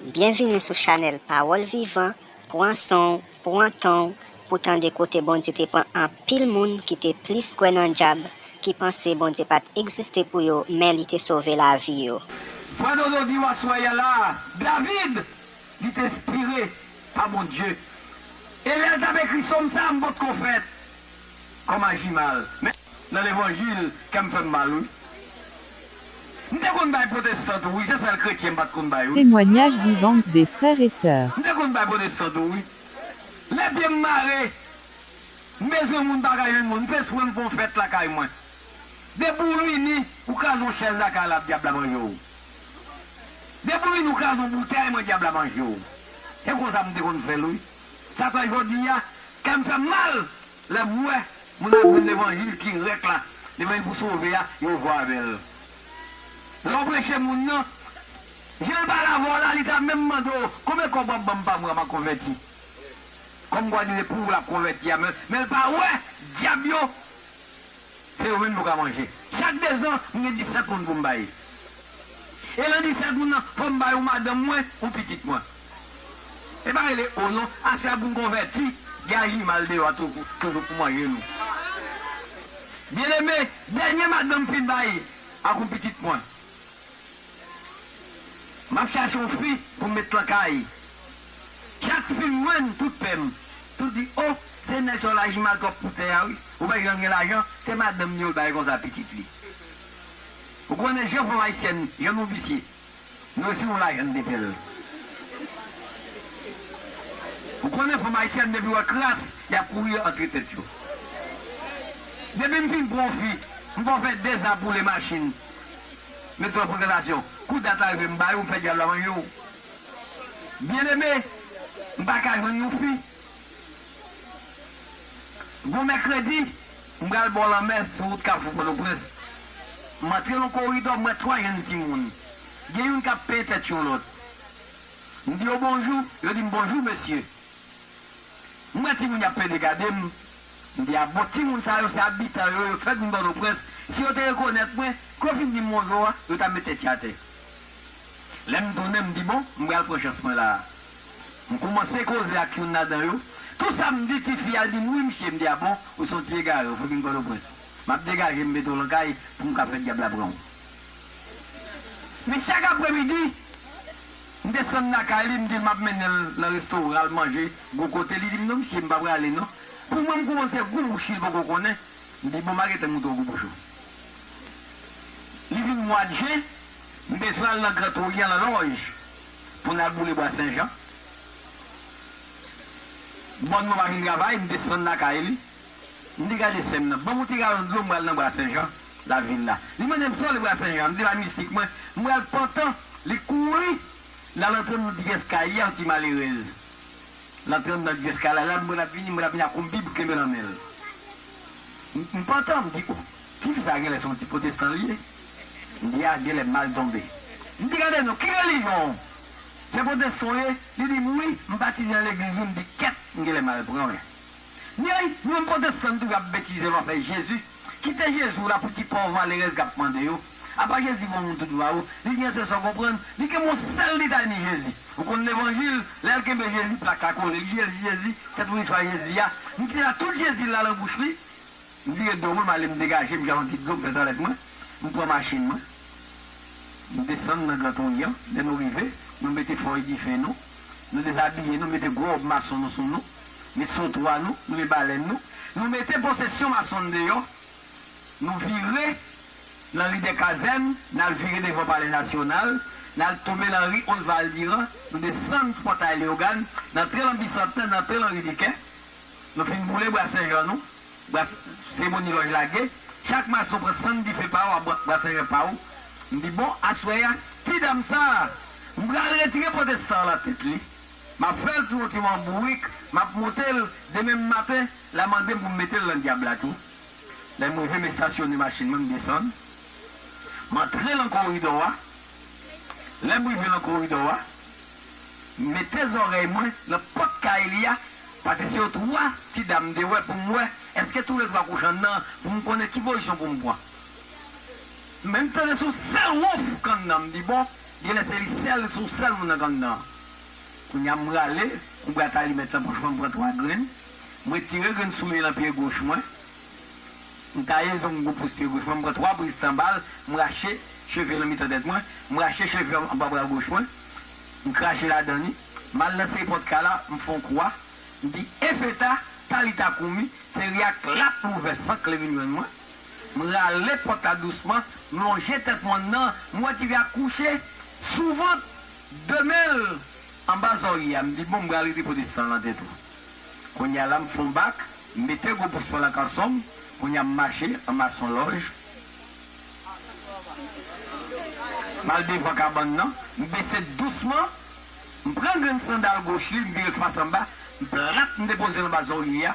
Byenvini sou chanèl pawòl vivan, pwan sonw, pwan tonw pou tande kote Bondye te pran anpil moun ki te plis kwè nan djab ki panse Bondye pat egziste pou yo men li te sove lavi yo. Sa Dodo diw aswè ya la David li t espire pa Bondye e lèl tap ekri som sa m potko fèt Kòm aji mal men nan levanjil kèm fèm mal wi m te konn bay protestant tou wi se sèl kretyen m pat konn bay wi. Témoignage vivants des frères et sœurs. M te konn bay protestant tou wi lè pyem mare m bezwen moun m pa ka jwenn moun m fè espre m fè yon fèt lakay mwen depi w vini ou kraze yon chèz lakay la dyab la manje w depi w vini ou kraze yon boutèy mwen dyab la manje w se konsa m te konn fè l wi. Sa fè jodi a, kè m fè m mal lè m wè moun ap jwenn levanjil ki rèk la, levanjil pou sove a, yo jwe avè l. Lè w preche moun nan, je l pa lavwa la, li ta menm mande w, Konbyen kòb w ap ban m pa mwa m a konvèti? Kòmkwa li se pou w l ap konvèti a, men l pa wè dyab yo. Se yo menm nou ka manje. Chak dezan, m gen disèt moun pou m bay. E nan disèt moun nan, fò m bay yon madanm mwen, yon pitit mwen. E pa rele O non, ase a pou n konvèti, gen ajimal deyò a toujou pou manje nou. Byeneme, dènye madanm m fin bay ak yon pitit mwen. Map chache yon fi pou m met lan kay Chak fi m jwenn tout pè m tou di oh se nèg sa w laji mal twòp pou tè a wi Ou pa janm gen lajan se madanm li yo l bay konsa pitit li Ou konnen jan fanm ayisyèn jan nou visye Nou resi yon lajan n mete l Ou konnen fanm ayisyèn depi wè kras yap kouri antre tèt yo Depi m fin pran yon fi m fè w fè 2 zan pou w le machin Mete yo pran relasyon. Kou dat la rive m ba yo, m fè dyab la mange yo. Byeneme, m pa ka jwenn yon fi. Gon mèkredi, m pral bò lanmè sou wout Kafou Pòtoprens. M antre yon koridò, m wè twa jenn timoun. Gen youn k ap penyen tèt yon lòt. M di yo bonjou, yo di m bonjou mesye. M wè timoun y ap pede gade m. M di a bon timoun sa yo se abitan yo, yo t fèt vin Pòtoprens, si yo te rekonèt mwen, kou yo fin di m bonjou a, yo ta met tèt yo atè. Lè m tounen m di bon, m pral pran chans mwen la a. M koumanse koze ak youn ladan yo, tou sa m di tifi a l di m wi msye, m di a bon, ou se yon ti egare, ou fèk vin Pòtoprens. M ap degaje m mete w lan kay pou m ka fè dyab la pran w. Men chak apremidi. M desann lakay li, m di l m ap mennen l nan resto pou l al manje gwo kote. Li di m non msi, m pa prale non. Pou mwen, m koumanse gou bouch li, l poko konnen. M di bon m a rete moutre w gou bouch ou. Li vin mwad jen, m bezwen al nan Gran Toryan nan lòj pou n al boule bwa senjan. Bòn mwen pa fin travay, m desann lakay li. M di gade sè m nan, ban m yon ti galon dlo m pral nan bwa senjan. Nan vil la. Li mande m sa li pral sèvi a. M di l a mistik mwen. M pral pantan. Li kouri. L al antre nan ti eskalyè yon ti malerèz. L antre andan ti eskalyè la. M wè l ap vini. M wè l ap vini ak yon bib kenbe nan men l. M pantan. M di, o! Ti fi sa a genlè se yon ti potestan li ye. M di a genlè m mal tonbe. M di gade non, ki relijyon w? Se potestan w ye? Li di m wi. M batize nan legliz wi. M di kèt! M genlè mal pran wi. Ney menm potestan tou kap betize lwa fè jezi kite jezi w la pou ti pòv malerèz kap mande yo apa jezi bon moun tout vwa ou li gen sè sa w konprann li gen bon sèl detay ni jezi ou konn levanjil lèl kenbe jezi plak la kole li jezi jezi tèt wouj fwa jezi a li te la tout jezi la lan bouch li m vire do mwen m ale m degaje m jwenn yon ti dlo m fè twalèt mwen m pran machin mwen m desann lan gran tonyan lè nou rive nou mete fòy dife nou nou dezabiye nou mete gwo wòb mason nou sou nou. met santwa nou, nou met balèn nou, nou mete posesyon mason deyò, nou vire lan ri dè kazèn, n al vire devan palè nasyonal, n al tonbe lan ri Osval Diran, nou desann pòtay Leyogàn, n antre lan Bisantè, n antre lan ri Dikè, nou fin boule bwa Senjan nou, bwa seremoni lòj lage, chak mason pran sann dife pa ou ak bwa Senjan pa ou, m di bon, aswè a, ti dam sa a, m pral retire potestan an lan tèt li. Map fèl tou ti man bourik map montel demenm maten la mandem poum metel nan dyab la tou lèm rive m estasyone machin mwen m desann m antre lan koridò a lèm rive lan koridò a m mete zòrèy mwen lan pòt kay li a pase se yo 3 ti dam m te wè poum wè eske tou le 3 kouche andan poum konnen ki pozisyon poum pran men m tande son sèl wonf k andan m di bon Genlè se li sèl li son sèl moun nan gang nan kounya m rale kou brat alimèt lan bouch mwen m pran 3 grenn m retire grenn soulye nan pye goch mwen m taye zong gwo pous pye goch mwen m pran 3 briz tan bal m rache cheve nan mitan tèt mwen m rache cheve anba bra goch mwen m krache ladan li m al nan seri pòt kay la m fon kwa m di efeta talita koumi se ri ak lap louvè san kle vin jwenn mwen. M rale pòt la dousman, m lonje tèt mwen nan, m wè ti fi a kouche sou vant, 2 men l anba zòrye a. M di bon m pral rete pote san lan tèt ou. Kounye a la m fon bak, m mete gwo bous mwen lan kanson m, kounye a m mache anba son lòj. M al devan kabann nan, m bese dousman, m pran grenn sandal goch li, m vire l fas anba, m plat m depoze l anba zòrye a.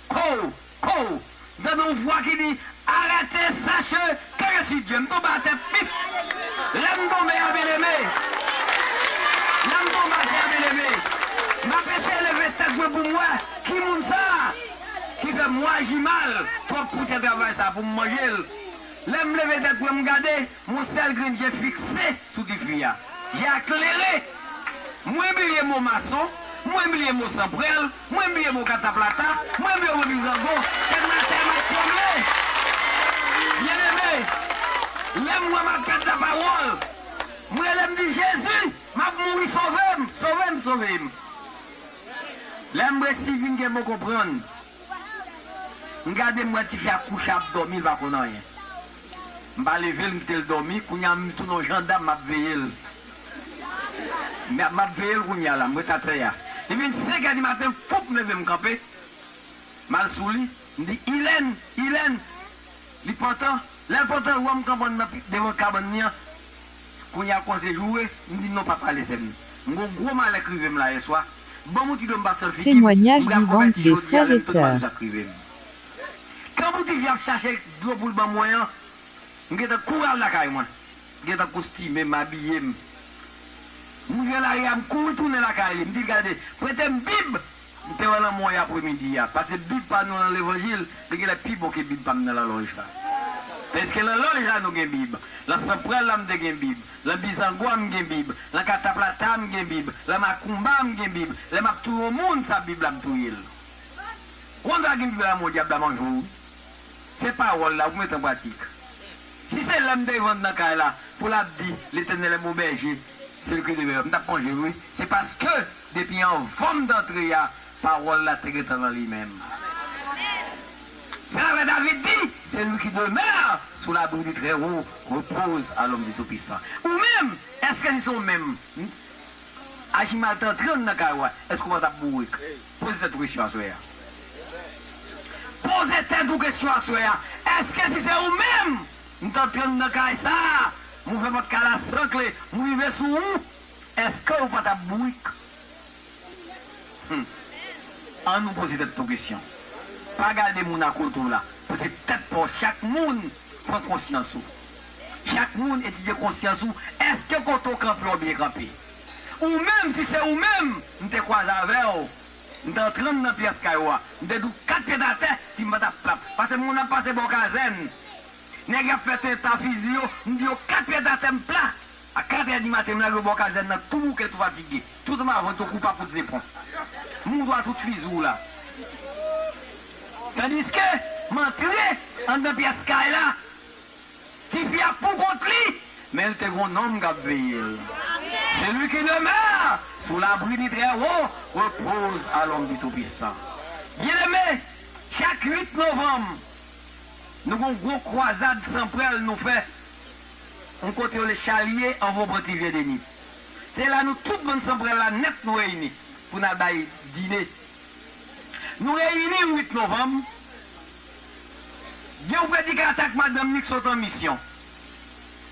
Kouw! Kouw! M tande yon vwa ki di, Arete seche kere sidje. M tonbe atè pif! Lè m tonbe a byeneme, lè m tonbe atè a byeneme, m ap eseye leve tèt mwen pou m wè ki moun sa a ki fè m waji mal twòp pou tè travay sa a pou m manje l. Lè m leve tèt mwen m gade, Yon sèl grenn je fikse sou Difwi a. Je a klere! Mwen bliye mo mason, mwen bliye mo sanprèl, mwen bliye mo kataplata, mwen bliye mo mizango. Kè m nan tè m ap tranble. Byeneme, lè m wè m ap pèd lapawòl, m rele m di, Jezi, m ap mouri sove m, sove m, sove m. Lè m resi vin gen bon konprann, m gade m wè tifi a kouche ap dòmi l pa konn anyen. M pa leve l m kite l dòmi kounye a m sou non jandam map veye l map veye l kounye a la m ret atè a li vin 5 è di maten foup m leve m kanpe m al sou li m di Ilèn Ilèn li pantan lè l pantan l wè m kanpe nan devan kabann li an kounye a kòmanse joure m di non pa pale sè m m gon gwo malè k rive m la yèswa banm yon ti dlo m pase l figi m m Témoignage pral vivant konvèti de jodi a frères lè et m tounen m al sœurs. sou sa k rive m. Tan Boudivi ap chache dlo pou l ban mwen an, m gen tan kouri al lakay mwen. M gen tan kostime m, abiye m. M rive lari a, m kouri tounen lakay li. M di l, Gade, prete m Bib m te wè nan mwen yè apremidi a. Pase Bib pa nou nan Levanjil, li gen lè pi bon ke Bib pa m nan lalòj la. Pèske nan lòj la nou gen Bib. Lan Sanpral la m te gen Bib. Lan Bizangwa m gen Bib. Lan Kataplata m gen Bib. Lan Makoumba m gen Bib. Lè m ap touye yon moun, sa Bib la m touye l. Konsa gin vre lanmò dyab la manje w wi. Se pawòl la pou mete an pratik. Si se lèm te vann nan kay la pou lap di Letènèl est mon berger, celui que demeure m tap manje l wi. Se paske depi anvanm t antre a pawòl la te gentan nan li menm. Se la vre David di, celui qui demeure sous l'abri du très haut repose à l'ombre du tout puissant. Ou menm, eske se sou ou menm? Aji mal te antre anndan kay ou a, èske ou pa t ap bourik? Poze tèt ou kesyon aswè a. Poze tèt ou kesyon aswè a, Èske si se ou menm, m t antre anndan kay sa a, m ouvè pòt kay la san kle, m rive sou ou, èske ou pa t ap bourik? Hum! Annou poze tèt nou kesyon. Pa gade moun akote ou la, paske tèt pa w chak moun pran konsyans ou. Chak moun etidye konsyans ou eske kote w kanpe w byen kanpe? Ou menm si se ou menm m te kwaze avè w m t antre anndan pyès kay ou a m te di w 4 pyet atè si m pa ta pap pase moun ap pase bò kazèn nèg y ap fè tenta fizi yo m di yo 4 pyet atè m pla a 4 è di maten m lage w bò kazèn nan tou bouke tou fatige tou san ma vant yo kou papout zepon m ou dwa tout fizi w la tandiske m antre anndan pyès kay la. Tifi a pou kont li, men l te gon nonm k ap veye l. Celui qui demeure sous l'abri du Très-Haut repose à l'ombre du Tout-Puissant. Byeneme, chak 8 novanm, nou gon gwo kwazad san prèl nou fè yon kote yo rele Chalye anvan w pran ti vye demi. Se la nou tout bann san prèl la nèt nou reyini pou n al bay dine. Nou reyini yon 8 novanm. Gen yon predikatè ak madanm li k sot an misyon.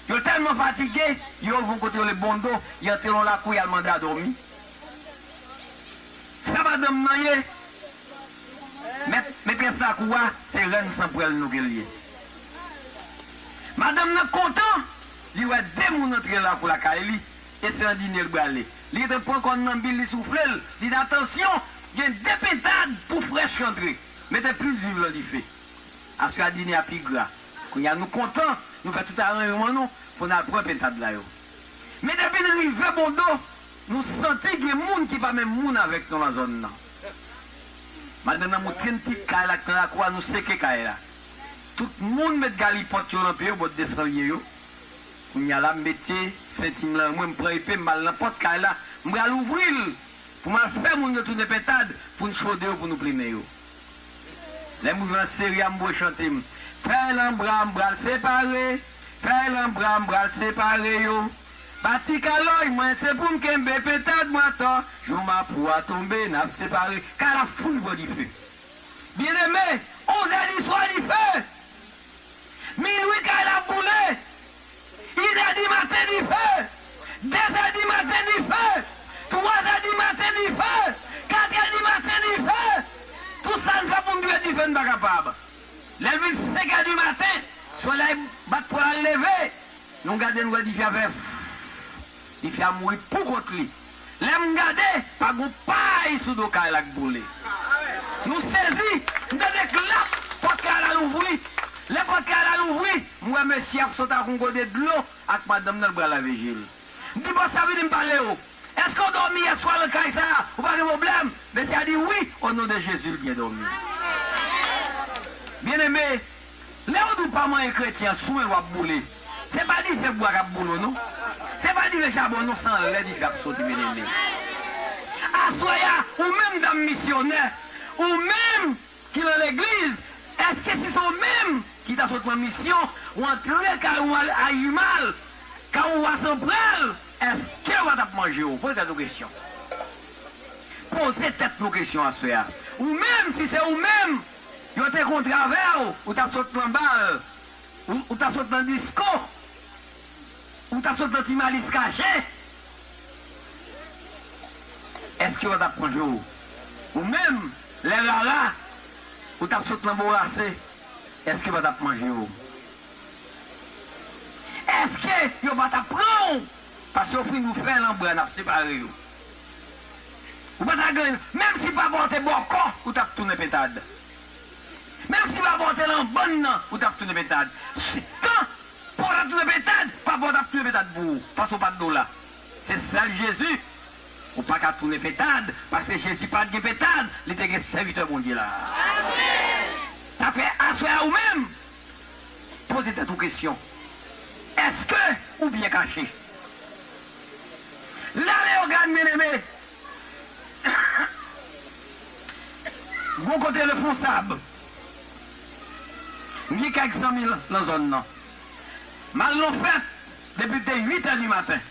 Yo tèlman fatige, yo rive yon kote yo rele Bondo, y antre yon lakou y al mande a dòmi. Sa madanm nan ye? Mèt, metrès lakou a, se rèn san pwèl nou ke l ye. Madanm nan kontan, li wè de moun antre lakou lakay li, e se Andine l brale. Li gentan pran kòn nan bi l, li soufle l, li di, Atansyon, gen de pentad pou frèch k antre. Mete plis viv lan dife. Aswè dine a pi gra. Kounye a nou kontan, nou fè tout aranjman nou pou n al pran pentad la yo. Men depi n rive Bondo, nou santi gen moun ki pa menm moun avèk nou lan zòn nan. Madanm nan moutre n ti kay la k nan lakou a, nou seke kay la. Tout moun met galipòt yo lan pye yo bòt desanlye yo. Kounye a la m mete senti m lan mwen, m pran epe m m al lan pòt kay la, m pral ouvri l. Pou m al fè moun yo tounen pentad pou n chode yo pou nou plimen yo. Lè m rive nan seri a m bwe chante m fèy lanbra m pral separe fèy lanbra m pral separe yo pa ti kalòy mwen se pou m kenbe pentad mwen atò jou mapou a tonbe n ap separe kay la fout pran dife byeneme onzè diswa dife minwi kay la ap boule. Inè di maten dife, dezè di maten dife, twazè di maten dife, katrè di maten dife, tout sa n fè pou n dwe dife n pa kapab. Lè l vin senkè di maten, solèy bat pwal al leve, nou gade n wè dife a fè fff, dife a mouri poukont li. Lè m gade, pa gon pay sou do kay la k boule. Nou sezi, m tande klap, pòt kay la louvri. Lè pòt kay la louvri, m wè mesye ap sot ak yon gode dlo ak madanm nan l pral lave je l. M di bòs la vini m pale w. Èske w dòmi yèswa nan kay sa a? Ou pa gen pwoblèm? Mesye a di wi, onon de Jezi l byen dòmi. Byeneme! Lew di w pa manyen kretyen swen l wap boule se pa dife bwa kap boule w non se pa dife chabon non san lè dife ap soti melele aswè ya ou menm dam misyonè ou menm ki lan legliz eske si se w menm ki ta sot lan misyon w antre kay ou al a imal kay ou wa san pral eske wa tap manje w poze tèt ou kesyon poze tèt nou kesyon aswè ya ou menm si se w menm. Yo te kontre avè w, ou t ap sot nan bal, ou t ap sot nan disko, ou t ap sot nan ti malis kache. Èske yo pa t ap manje w? Ou menm, lè rara, ou t ap sot nan bourase, èske yo pa t ap manje w? Èske yo pa t ap pran w? Paske yo fin nou fè lanbra, n ap separe yo. Ou pa ta gen Menm si papa w te bòkò ou t ap tounen pentad Menm si papa w te lan bann nan ou t ap tounen pentad Si tan pou w ta tounen pentad papa w t ap tounen pentad pou ou paske w pa t dola Se sèl Jezi Ou pa ka tounen pentad paske Jezi pa t gen pentad li te gen sèvitè Bondye la Sa fè aswè a ou menm poze tèt ou kesyon Èske ou byen kache? M ta Leogane men eme Gon kote reponsab M gen kèk zanmi nan zòn nan M al nan fèt depi l te 8 è di maten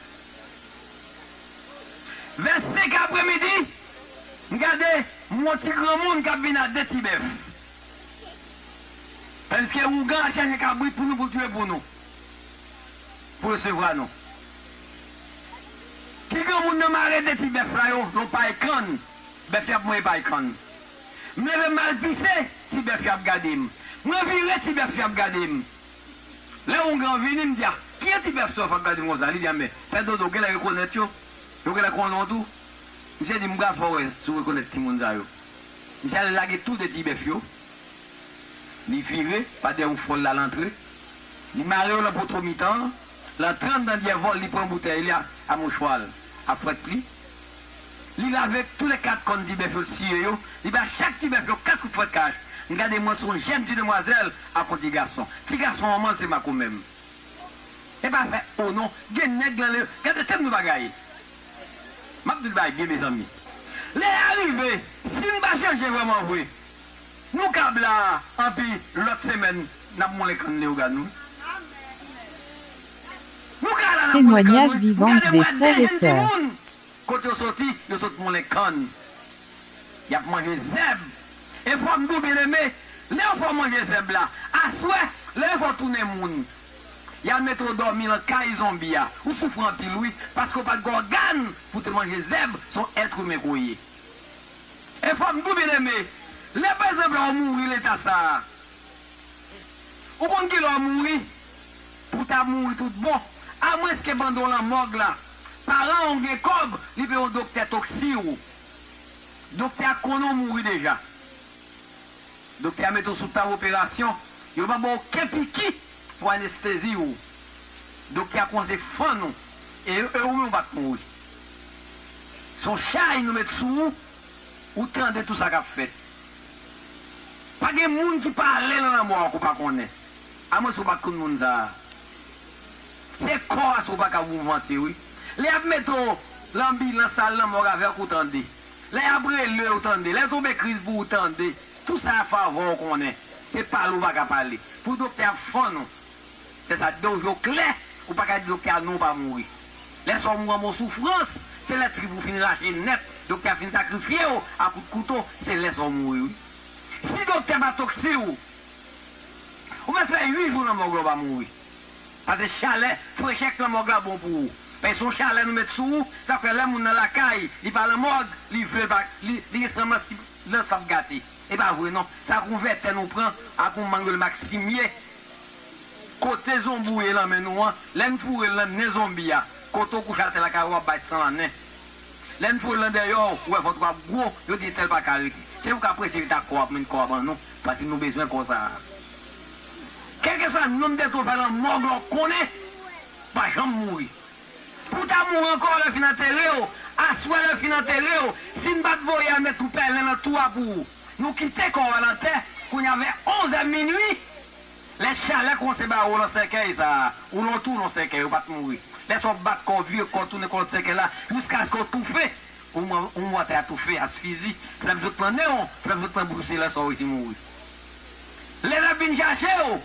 Vè 5 è apre midi M gade m wè yon ti granmoun k ap vin a 2 ti bèf Tandiske ougan ap chache kabrit pou nou pou l touye pou nou pou resevwa nou. Ti granmoun nan mare de ti bèf la yo lon pay kann, bèf yo ap mwen pay kann. M leve m al pise, ti bèf yo ap gade m. Mwen vire ti bèf yo ap gade m. Lè Houngan an vini, m di a, kijan ti bèf sòf ap gade m konsa? Li di a, men, fè dodo, genlè rekonèt yo, yo genlè konnen w tou. Misye di m, m pral fè w wè si w rekonèt timoun sa yo. Misye ale lage tou de ti bèf yo. Li vire pa dèyè oufwòl la, l antre. Li mare yo nan poto mitan an. L antre anndan dyèvò l, li pran boutèy li a mouchwa l, a fwèt li. Li lave toule kat kòn ti bèf yo, l siye yo. Li ba chak ti bèf yo kat kout fwèt kach. M gade, m wè se yon jenn ti demwazèl ak yon ti gason. Ti gason an manl se makomè m. E pa fè o non. Gen nèg lan le. Gade tèm nou bagay. M ap di l bagay byen mezanmi. Lè a rive, si m pa chanje vrèmanvre. Nou kab la a anpi lòt semèn n ap moulen kann Leogan nou. Nou ka la n ap moulen kann Témoignage nou. M vivant gade m de wè frères et 2 sè sœurs. moun kot yo soti, yo sot moulen kann. Y ap manje zèb. E fò m di w byeneme, lè yo fè w manje zèb la, aswè, lè yo fè w tounen moun, y al mete w dòmi lan kay zonbi a, ou soufri anpil wi, paske w pa t gen ògàn pou w te manje zèb, s on èt imen ke w ye. E fòm tou byen eme, lè pa egzanp lè ou mouri leta sa a, ou konn ki lè ou mouri, pou w ta mouri tout bon, a mwens ke pandan w lan mòg la, paran ou gen kòb, li peye yon doktè toksi ou. Doktè a konnen ou mouri deja. Doktè a mete w sou tab operasyon, yo pa ba w oken piki pou anestezi ou. Doktè a kòmanse fann ou, e ou menm ou pa t mouri. Son chay nou met sou ou ou tande tou sa kap fèt pa gen moun ki pa ale nan lanmò a ke w pa konnen a mwens ou pat konn moun sa se kò a sou paka mouvante wi lè yap mete w lan anbilans al nan mòg avèk ou tande lè yap rele w tande lè tonbe kriz pou ou tande tou sa a favò w konnen se pale ou paka pale pou doktè ap fann ou. Lè sa t gen yon je w klè ou pa ka di doktè a non w pa mouri. Lè sa w mouri anba yon soufrans, se lè trip ou fin rache nèt, doktè a fin sakrifye w a kout kouto, se lè sa w mouri wi. Si doktè pa toksi w, ou mèt fè 8 jou nan mòg la w pa mouri. Pase chalè, frechè k nan mòg la bon pou ou. Paske se yon chalè nou met sou ou, sa k fè lè moun nan lakay, li pa nan mòg, li vle l pa, li gen san mas li nan san p gate. E pa vre non. Se ak yon vètè nou pran, ak yon manguel maximie. Kote zonbi w ye lan men nou an, lè n foure l lan nen zonbi a, kote w kouche atè lakay ou ap bay san lan nen. Lè n foure l lan dèyè w, ou wè vant ou ap gwo, yo di entèl pa ka rete. Se ou k ap prese vit ak kò a pou menn kò a ban nou, paske nou bezwen kò sa a. Kèlkeswa nonm dèt ou fè lan mòg la ou konnen, ou pa janm mouri. Pou ta mouri ankò lè fin antere w, aswè lè fin antere w, si n pa t voye a met yon pèlen nan tou a pou ou. Nou kite kò a nan tè, kounye a vè onzè minui, lè chalè kòmanse bare w nan sèkèy sa a, ou nan yon tou nan sèkèy, ou pa t mouri. Lè sa w bat kò w, vire kò w, tounen kò w nan sèkèy la, jiskaske w toufe, ou mouri atè a toufe, asfizi, flèb sot nan nen w, flèb sot nan bouch ou se lè sa w resi mouri. Lè n ap vin chache w.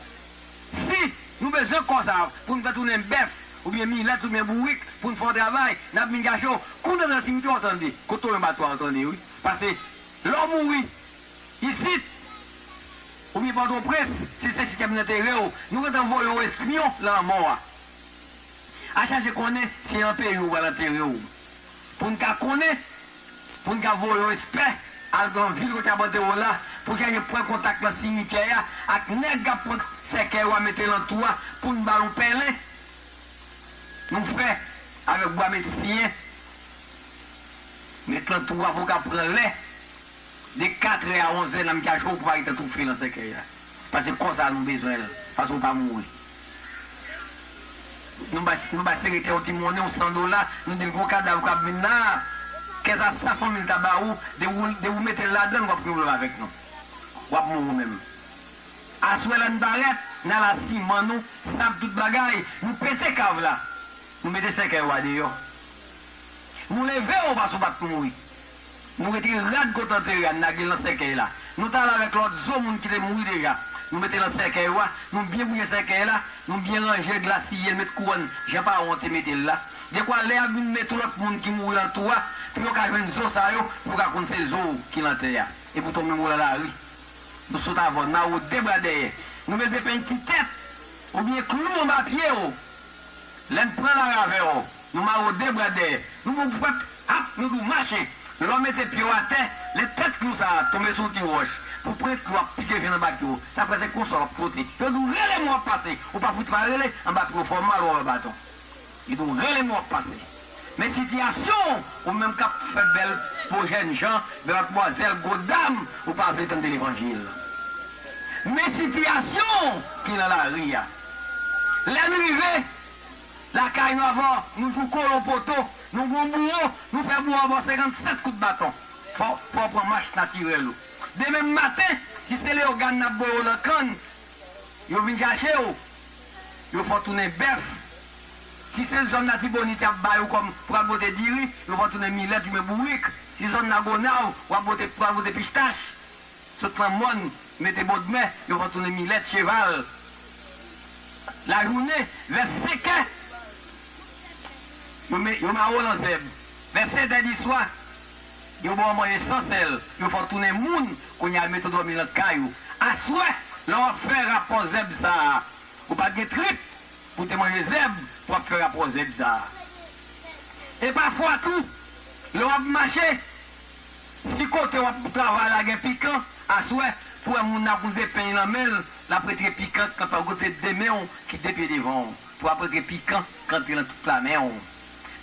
Si Nou bezwen kò sa pou n fè tounen bèf oubyen milèt oubyen bourik pou n fè yon travay n ap vin kache w kou nan nan simityè w tande kote w yon batwa w tande wi pase lè w mouri isit oubyen pòtoprens si se sitè pou n antere w nou gentan voye yon espyon lanmò a a chache konnen se an peyi w yo pral antere w. Pou n ka konnen, pou n ka voye yon espè al nan vil kote y ap antere w la, pou sa yo pran kontak nan simityè a ak nèg k ap pran sèkèy ou a mete nan tou a pou n ba nou pèlen nou fè avèk bwa met siye met nan tou a pou w ka pran lè De katrè a onzè nan mitan jou ou pou pa rete toufe lan sèkèy la. Pase kò sa a nou bezwen l, pase ou pa mouri. Nou bay, nou bay seretè yon ti monnen, yon san dola, nou di l gon kadav k ap vin la a, kè sa sa fanmi l ta ba ou, de ou, de ou mete l ladan l w ap gen pwoblèm avèk nou. W ap mouri ou menm. Aswè la n parèt, n al a siman nou, sab tout bagay, nou pete kav la, nou mete sèkèy ou a deyò. Nou leve ou pase ou pa t mouri. Nou retire rad kontanteri a n lage l nan sèkèy la. Nou ta ale avèk lòt zo moun ki te mouri deja. Nou mete nan sèkèy ou a. Nou byen bouye sèkèy la. Nou byen ranje l, glasiye l, met kouwòn jan paran w an te mete l la. Dekwa lè y ap vin men tou lòt moun ki mouri an tou a, pou yo ka jwenn zo sa yo, pou yo ka konn se zo w ki lan tè a. Epoutan w menm ou lan lari. Nou sot avè w, n mare w de bra dèyè. Nou mete penti tèt oubyen klou anba pye w. Lè n pran lari avè w, Nou marode bwa dèyè. Nou bon pwèp ap nou dou mache. Lè w mete pye w atè, lè tèt klou sa a tonbe sou yon ti wòch, pou pwent klou ap pike jwenn anba pye w, sa fè se konsa w ap twote. Yo di w rele men w ap pase. Ou pa fout pa rele, anba pye w fè w mal ou anba baton. Yo di w rele men w ap pase. Men sitiyasyon w, ou menm k ap fè bèl po jènjan, bèl matmwazèl, gwo dam, ou pa vle tande levanjil. Men sitiyasyon w ki nan lari a. Lè n rive. Lakay nou avan nou jou kolon poto nou gon bouwo nou fè bouwo ba w 57 kout baton fò w pran mach natirèl ou demen maten si se leogane n ap voye w lan kann yo vin chache w yo fè w tounen bèf si se zòn latibonit y ap bay ou kòm pou al pote diri yo fè w tounen milèt oubyen bourik si zòn lagonav w ap pote pou al pote pistach. Sot pran mòn, mete bodmè, yo pran tounen milèt, cheval. Lajounen, vè senkè, yo me, yo mare w lan zèb. Vè sendè di swa, yo ba w manje san sèl, yo fè w tounen moun, kounye a yo mete w dòmi lan kay ou. Aswè, lè w ap fè rapò zèb sa a, ou pa t gen trip pou w te manje zèb pou w ap fè rapò zèb sa a. E pafwa tou, lè w ap mache, Si kote wap travay la gen pikan aswè pou wè moun nan ap wouze peny lan menl lap retre pikan kanpe ou kote de menw ki de pye devanw pou wap retre pikan kantre lan tout la menw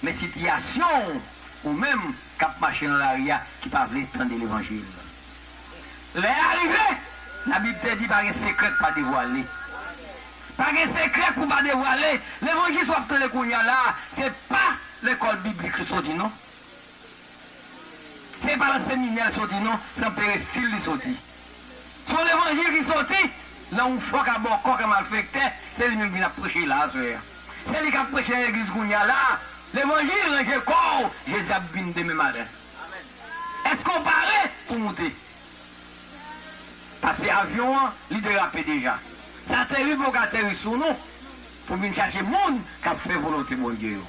men sitiyasyonw ou menm kap mache lan lari a ki pa vle tande levanjil lè a rive la bib te di pa gen sekrè k pa devwale pa gen sekrè pou pa devwale levanjis wap tande kounya la se pa lekòl biblik li soti non. Se pa lan seminè l soti non, se lan perestil li soti. Se yon levanjil ki soti lan yon fo ka bòkò ka malfektè, se li menm ki vin ap preche la a sè a. Se li k ap preche lan legliz kounye a la a, levanjil ranje kò w Jezi ap vin demen maten. Èske w pare pou w moute? Pase avyon an, li derape deja. Sa teri pou yo ka ateri sou nou. Pou vin chache moun k ap fè volonte Bondye yo.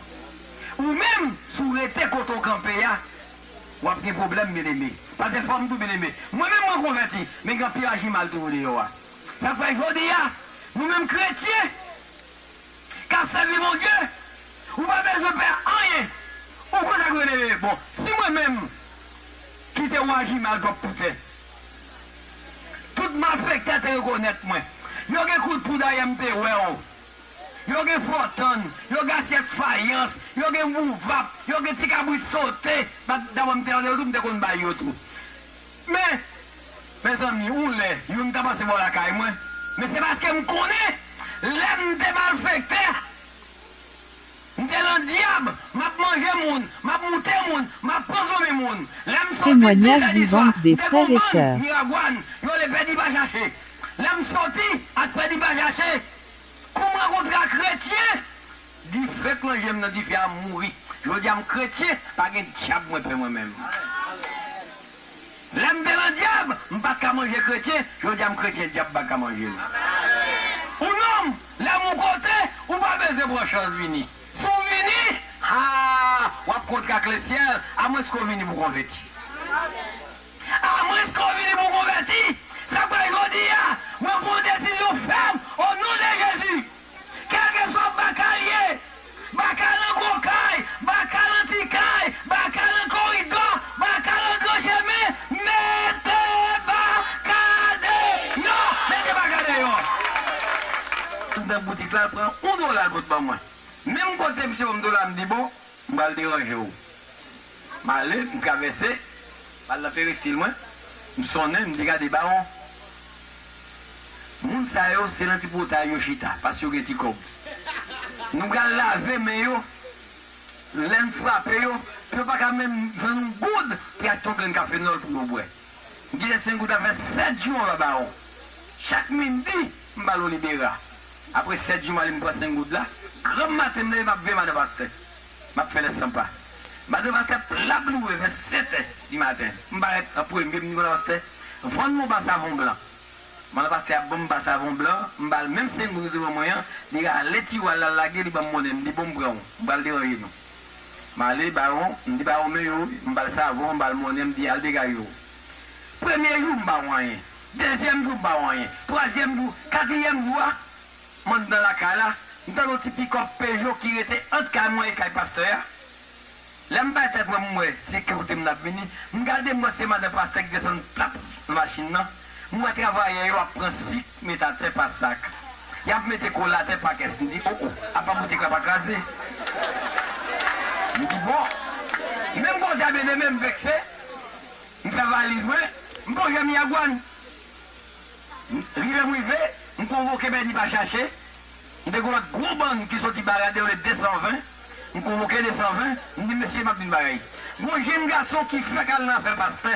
Ou menm, si w rete kote w kanpe a, w ap gen pwoblèm, byeneme. Pa defwa m tou, byeneme. Mwen menm, mwen konvèti, men gen anpil aji mal toujou deyò a. Sa k fè, jodi a, nou menm kretyen k ap sèvi Bondye, ou pa bezwen pè anyen. Ou konn sa k fè, byeneme? Bon, si mwen menm kite w aji mal twòp toutè, Tout malfektè te rekonèt mwen. Yo gen kout poud ayè m te wè w. Yo gen fòtann, yo gen asyèt fayans, yo gen bouvap, yo gen ti kabrit sote. Dapre m te tande yo tou, m te konn bay yo tou. Men, mezanmi, yon lè, youn ta pase bò lakay mwen, men se paske m konnen lè m te malfektè, M te lan dyab, m ap manje moun, m ap moute moun, m ap pran fanmi moun. Lè m soti 12 Témoignage è di swa, vivant m des te kon frères et bann sœurs. Miragwàn, yo rele pè di pa chache. Lè m soti ak pè di pa chache, kou m rankontre ak kretyen, dife k lan je m nan dife a m mouri. Jodi a m kretyen, pa gen dyab mwen pè mwen menm. Lè m te lan dyab, m pat ka manje kretyen, jodi a m kretyen dyab pa ka manje m. Ou nonm, lè m ou kote, ou pa bezwen pran chans vini. Si w vini, haa, w ap kontre ak lesyèl, amwenske w vini pou w konvèti. Amwenske w vini pou w konvèti! Se pou jodi a, mwen pran yon desizyon fèm, o non de Jezi! Kèlkeswa baka l ye, baka nan gwo kay, baka nan ti kay, baka nan koridò, baka nan gran chemen, mete baka deyò! Mete baka deyò! Tout nan boutik la, l pran yon dola l pot ban mwen. Menm kote misye ban m dola a, m di bon, m pral deranje w. M ale, m travèse, m al nan peristil mwen, m sonnen, m di gade bawon, Moun sa yo se nan ti potay yo chita pask yo gen ti kòb. Nou pral lave men yo lè n frape yo pou yo pa ka menm jwenn yon goud ki achte yon grenn kafenòl pou yo bwè. Gide Sengout ap fè 7 jou anba bawon. Chak midi, m ba l olibera. Apre 7 jou m ale m pran Sengout la. Granm maten m leve m ap veye madan pastè. Map fè lè san pa. Madame a tèt la bloure vè 7 è di maten. M parèt an premye m di Konan pastè vann mwen w ba savon blan. Konan pastè ap banm ba savon blan, m ba l menm sengoud ou te ban mwen an, li rale tiwa l la l lage li banm monnen m di bon m pran w m pral deranje nou. M ale bawon m di bawon men yo wi m ba l savon m ba l monnen m di al degaje w. Premye jou m ba w anyen, dezyèm jou m ba w anyen, twazyèm jou, katriyèm jou a M anndan lakay la, m tande yon ti pikòp pejo ki rete ant kay mwen e kay pastè a. Lè m bay tèt mwen pou m wè se ki kote moun ap vini, m gade m wè se madan pastè ki desann tap nan machin nan. M wè travayè yo ap pran sik met atè pa sak. Y ap mete kola atè pa kès. M di, o o, apa boutik la pa kraze? M di, bon. Menm koze a byen eme, m vekse. M fè valiz mwen. M pran jèm yagwann. M rive m rive, m konvoke Bèni pa chache, m te gen yon gwo bann ki soti Barad yo rele 220, m konvoke 220, m di mesye m ap di n bagay. Gon jenn gason ki fèk al nan afè pastè,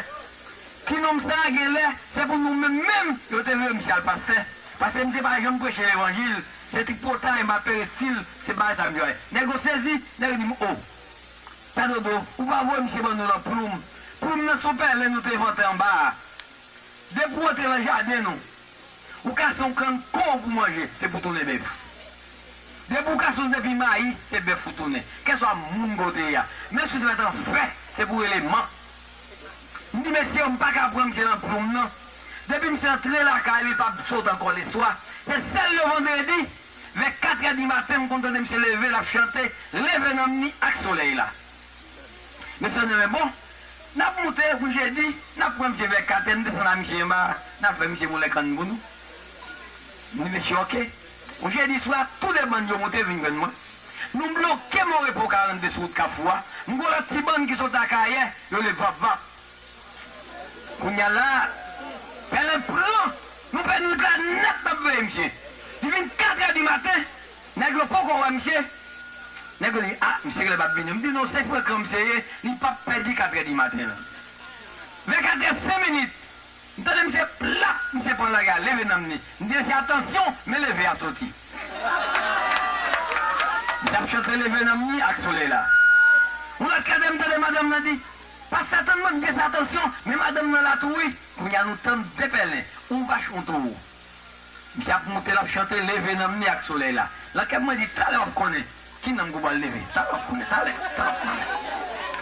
ti nonm sa a gen lè se pou nou menm menm yo te vle misye al pastè, paske misye pa janm preche levanjil, se tripotay, ma perestil, se bagay sa misye bay. Nèg yo sezi, nèg yo di m oh! Pè Dodo, ou pa voye misye ban nou nan ploum, ploum nan s on pèlen nou te envante anba a. Depi w antre lan jaden nou, ou kase yon kann kon pou manje, se pou tounen bèf. Depi w kase yon zepi mayi, se bèf ou tounen. Kèswa moun kote a. Men si w te mèt an fè, se pou w rele man. M di mesye yo m pa ka pran misye lan ploum non. Depi misye antre lakay li pa sot ankò leswa. Se sèl le vandredi, vè katrè di maten m konn tande misye leve l ap chante, Leve nanm ni ak solèy la. Mesye di mwen bon nap moute pou jedi nap pran misye vè 4 è nou desann a misye anba nap fè misye moulen kann pou nou m di mesye ok pou jedi swa tou 2 bann yo moute vin jwenn mwen nou bloke mon repo 42 sou wout kafou a m gwo lòt ti bann ki sot akayè yo rele vap vap kounya la pèlen pran nou pè nwit la nèt nap veye misye li vin 4 è di maten Nèg yo poko wè misye. Nèg yo di, a, misye genlè pap vini. M di, non, se frekan misye ye, li pap pèdi katrè di maten an. Vè katrè sen minit, m tande misye plap, misye pran lari a leve nanm ni. M di, mesye atansyon, men leve a soti. Misye ap chante leve nanm ni ak solèy la. Yon lòt katrè m tande madanm nan di, pase atann mwen, m di, mesye atansyon, men madanm nan la tou wi. Kounye a nou tann 2 pèlen, yon vach, yon towo. Misye ap moute, l ap chante, Leve nanm ni ak solèy la. Nan kè m mwen di, Talè w ap konnen ki nanm ki pral leve. Talè w ap konnen, talè, talè w ap konnen.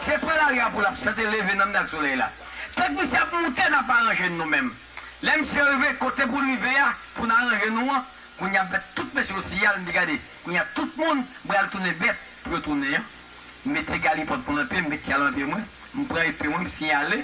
Se pre lari a pou l ap chante, Leve nanm ni ak solèy la. Tank misye ap moute, n ap aranje n nou menm. Lè misye rive kote pou l rive a, pou n aranje nou an, kounye a bèt tout mesye yo siyal, m di, Gade, kounye a tout moun pral tounen bèt pou yo tounen an. M mete galipòt mwen nan pye m, m met tyal nan pye mwen, m pran epe mwen, m siyale.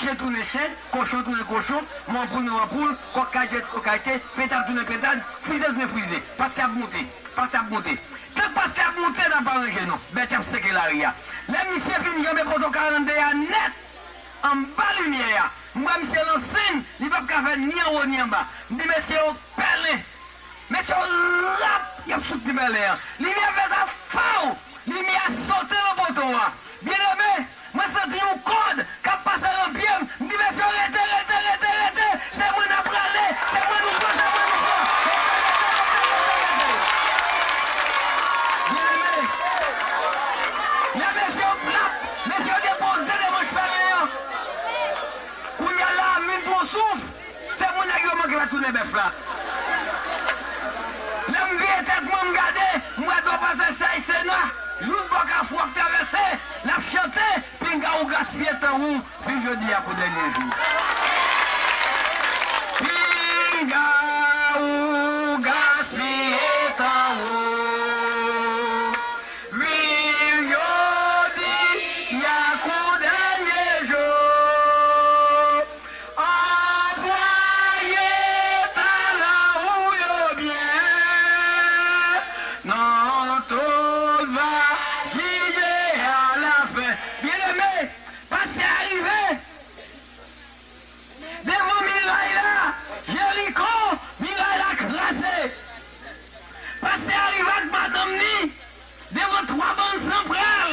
Chen tounen chen, kochon tounen kochon, manpoul nan manpoul, kòk kay tèt kòk kay te, pentad tounen pentad, frize tounen frize. Paske ap moute. Paske ap moute. Tank paske ap moute n ap pa ranje nou. Bèt y ap seke lari a. Lè misye fin janbe poto 42 a nèt, anba limyè a, m wè misye lan sen, li p ap ka fè ni anwo ni anba. M di mesye yo pèlen. Men se yon rap yap fout Ti Pèlen an. Limyè ap fè sa faww! Limyè a sote lan poto a. Byeneme, mwen santi yon kòd kap pase lan pye m, m di mesye yo rete, rete, rete, rete, se mwen nap rale, se mwen nou pran, se mwen nou pran. Rete, rete, rete, rete, rete. Byeneme, lè mesye yo blap, mesye yo depoze de manch pèlen an. Kounya la, m vin pran souf. Se pou nèg yo manke pa tounen bèf la. Lè m vire tèt mwen m gade, m wè dlo pase sèy Sena, jouk bò kafou ap travèse, l ap chante, Pinga ou gaspiye tan ou, viv jodi a kou dènye jou. Pinga ou gaspiye tan ou, viv jodi a kou dènye jou. Anplwaye talan ou yo byen nan tout va gide alafen. Byeneme, pase a rive devan miray la, Jeriko, miray la kraze. Pase a rive ak madanm ni devan twa bann san pral.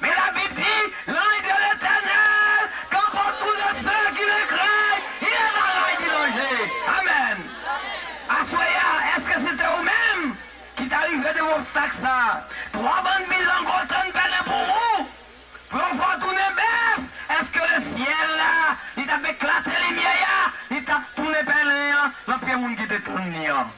Men Labib di, Lanj de Letènèl kanpe otou de se ki nan kray, il en a la ki danje. Amèn! Aswè a, èske se te ou menm ki ta rive devan obstak sa a? Twa bann bilango tann pèlen pou ou, pou yo fè w tounen bèf! Èske lesyèl la, li t ap eklate limyè a, li t ap tounen pèlen an nan pye moun ki te tann li an?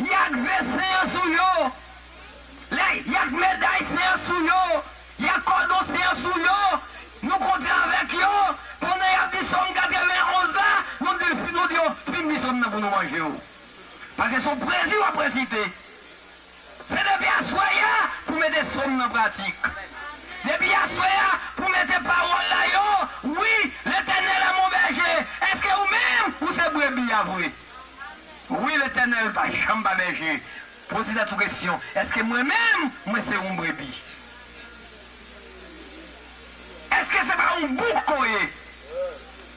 Y ak ve sen an sou yo. Lè y ak meday sen an sou yo, y ak kòdon sen an sou yo, nou konte avèk yo, pandan y ap li Sòm 91 la, nou di l, nou di yo, Fin li Sòm nan pou nou manje yo. Paske se yon pwezi w ap resite. Se depi aswè a pou mete som nan pratik. Depi aswè a pou mete pawòl la yo wi Letènèl a mon bèje eske ou menm ou se brebi a vre wi Letènèl pa janm pa bèje poze tèt ou kesyon eske mwen menm mwen se yon brebi eske se pa yon bouk ou ye.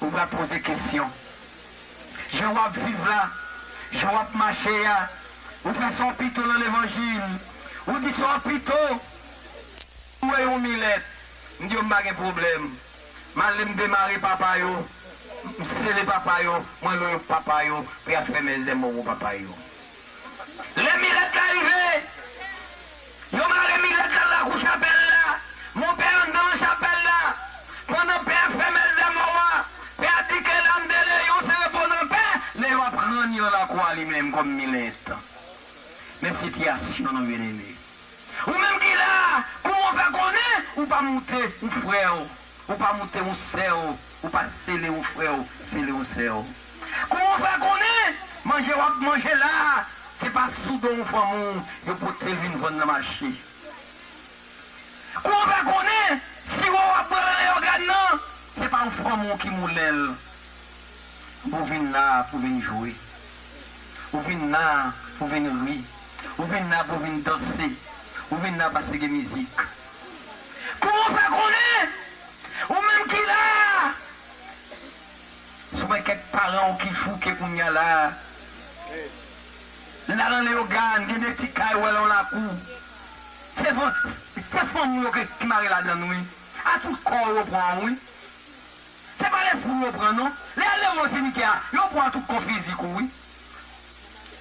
Ou va poze kesyon. Jan wap viv la, jan wap mache a, ou fè sa w pito nan levanjil, ou di sa w pito. Ou wè yon milèt, m di yo m pa gen pwoblèm. M ale m demare papa yo, m sele papa yo, mwen lwe papa yo pou y al fè mèzèmoro papa yo. Lè Milèt la rive, yo mare Milèt la nan lakou chapèl la. Monpè antre nan chapèl la. Pandan Pè a fè mès dèmò a, Pè a di ke Lam de Leyon se repoze an pè. Leyon ap ranni nan lakou a li menm kòm Milèt. Men sitiyasyon nou byeneme. Ou menm ki la a, kouman w fè konnen ou pa moute ou frè w Ou pa moute yon sè w ou pa sele yon frè w sele yon sè w kouman w fè konnen manje w ap manje la a se pa sou do yon fanmi w yo pote l vin vann nan mache kouman w fè konnen siwo w ap bwè nan leyogàn nan se pa yon fanmi w ki moulen l ou vin la a pou w vin jwe ou vin la a pou w vin ri ou vin la a pou w vin danse ou vin la a paske gen mizik. Kò w pa konnen, ou menm ki la a. Si w wè kèk paran w ki fouke kounye a la a, la nan Leyogàn, gen de ti kay, ou wè l an lakou, se van, se fanm ou yo ki mare ladan l wi. A tout kò w yo pran w wi. Se pa lespri w yo pran non. Lè y al demen w simityè a, yo pran a tout kò fizik ou wi.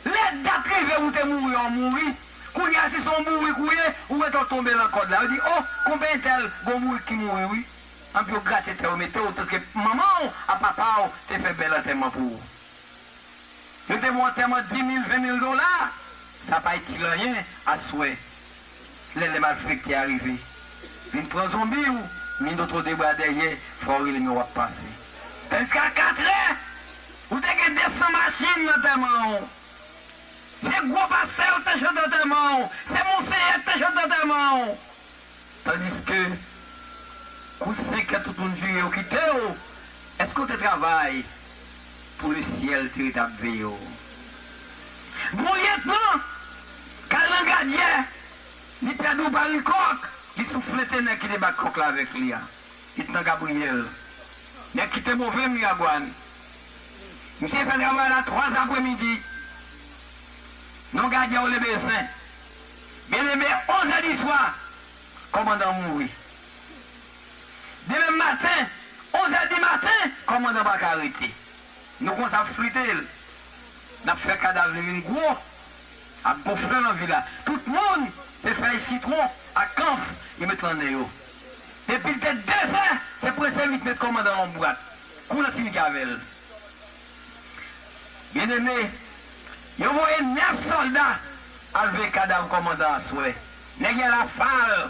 Lè dat rive ou te mouri ou mouri, kounye a si se yon bourik ou ye, ou wè tè w tonbe lan kòd la, yo di oh konpè entèl gen yon bourik ki mouri wi, anpi yo grate tè yo mete w paske manman w a papa w te fè bèl antèman pou ou. Yo te ba w antèman 10 mil, 20 mil dola, sa pa itil anyen aswè lè lè malfekte a rive vin pran zonbi ou min do tro de bra dèyè fwa ou rele men wap pase tandiske a 4 è ou te gen 200 machin nan tèman ou se gwo pastè yo ki te chante antèman ou se monseyè ki te chante antèman ou tandiske kou 5 è tout moun vire yo kite ou eske ou te travay Pou le syèl te ret ap veye w. Bon lyetnan kal nan gadyè, li pèdi w pa ri kòk, li souflete nèg ki te bat kòk la avèk li a. Lyetnan Gabriyèl, nèg ki te move Miragwàn, misye fè travay la twa zapremidi nan gadyè w Lebezyen. Byeneme, onzè di swa, kòmandan an mouri. Demen maten, onzè di maten, kòmandan Baka rete. Nou konsa ap flite l. N ap fè kadav li vin gwo. Ap gon fle nan vil la. Tout moun, se fèy sitwon ak kanf yo met lan nen yo. Depi l te dezè, se prese vit met kòmandan lan yon bwat. Kou l ap fini gave l. Byeneme, yo voye nèf sòlda al veye kadav kòmandan aswè. Nèg y al afal.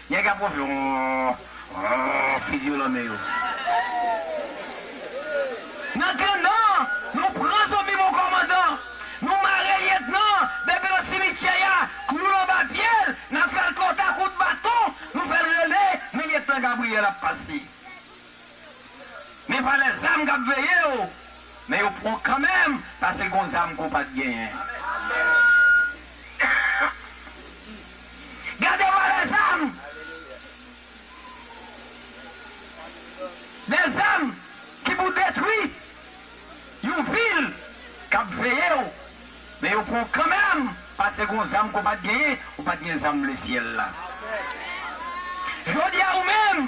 Nèg ap ronfle oohh fi di yo lanmen yo. Nan kandan Nou pran zonbi mon kòmandan Nou mare lyetnan bebe nan simityè ya klou l anba pye l na fè l kòt a kout baton Nou fè l rele men lyetnan Gabriyèl ap pase. Men valè zam kap veye yo, men yo pran kanmenm pase gon zam ke w pat genyen. Gade valè zam! De zam ki pou detwi yon vil kap veye w, men yo pran w kanmenm pase gon zam ke w pat genyen, ou pat gen zam lesyèl la. Jodi a ou menm.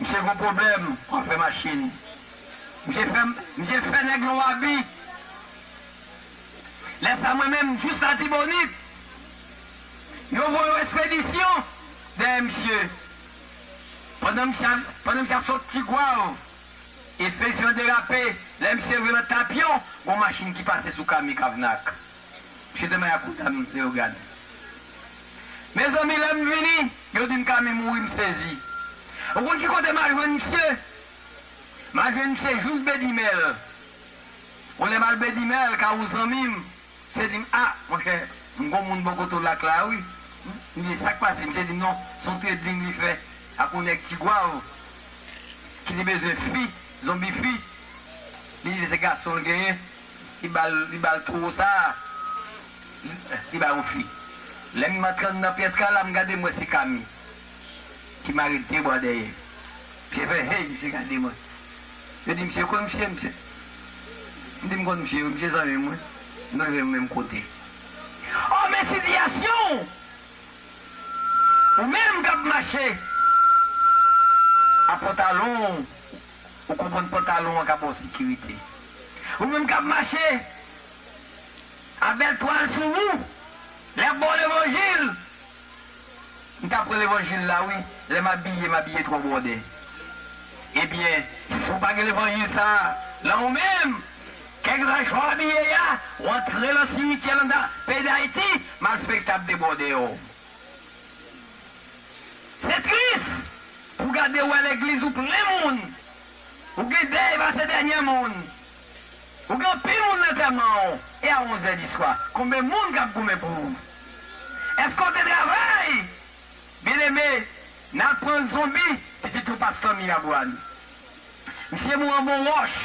Misye gon pwoblèm anfè machin. Misye fè misye fè nèg yon abi. Lè sa mwen menm jis latibonit. Yo voye yon espedisyon dèyè misye. Pandan misye ap pandan misye ap sot tigwav espedisyon an derape lè misye rive nan tapyon gon machin ki pase sou kami kavnak. Misye te mayakoudam leogane. Mezanmi lèm vini. Yo dim Kami mouri m sezi. Ou konn ki kote mal jwenn misye? Mal jwenn misye jous bedimèl. Bon lèm al bedimèl ka ou zanmim misye dim ah monchè m gon moun bò kote w lak la wi m di sak pase misye dim non son trading li fè ak on nèg tigwav ki te bezwen fi zonbi fi li di se gason l genyen li ba l li ba l towo sa a, li ba yon fi. Lè m antre anndan pyès kay la, m gade m wè se Kami ki mare de bwa dèyè. Misye fè hey, misye gade mwen. Yo di misye, ou konn misye? Misye M di m konn misye wi, misye zanmi m wi, nou leve nou menm kote. O men sitiyasyon w! Ou menm k ap mache a pantalon Ou konprann pantalon an ka ba w sekirite. Ou menm k ap mache a bèl twal sou wou, lè y ap ba w levanjil, M ka pran levanjil la wi, lè m abiye, m abiye twò bwòdè. Ebyen, si w pa gen levanjil sa a nan ou menm, kèlkeswa jan w abiye a, w antre nan simityè nan peyi Dayiti, malfektè ap debwòde w. Se tris pou gade wè legliz ou plen moun ou gen dèy pase dènyè moun ou gen anpil moun lantèman ou e a onzè di swa konbe moun kap goumen pou ou eske ou te travay byen eme nal pran zonbi pitit ou pastè mirabwa n misye mou an bon wòch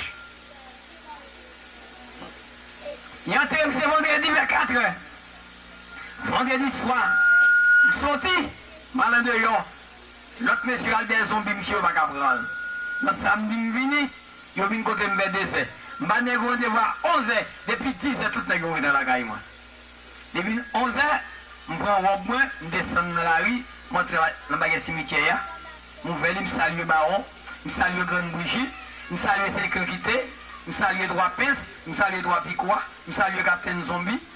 y antre misye vandredi vè katrè. Vandredi swa, m soti, m al andeyò. Lòt mesye yo al dèyè zonbi msye yo pa ka pran l. Nan samdi m vini, yo vin kote m vè dezè. M ba nèg yo randevou a onzè, depi dizè tout nèg yo rete nan lakay mwen. Li vin onzè, m pran wòb mwen, m desann nan lari, m antre nan bagay simityè a, m ouvè li, m salye Bawon, m salye Grann Bouji, m salye Senkrenkite, m salye Twa Pens, m salye Twa Pikwa, m salye Kaptenn Zonbi.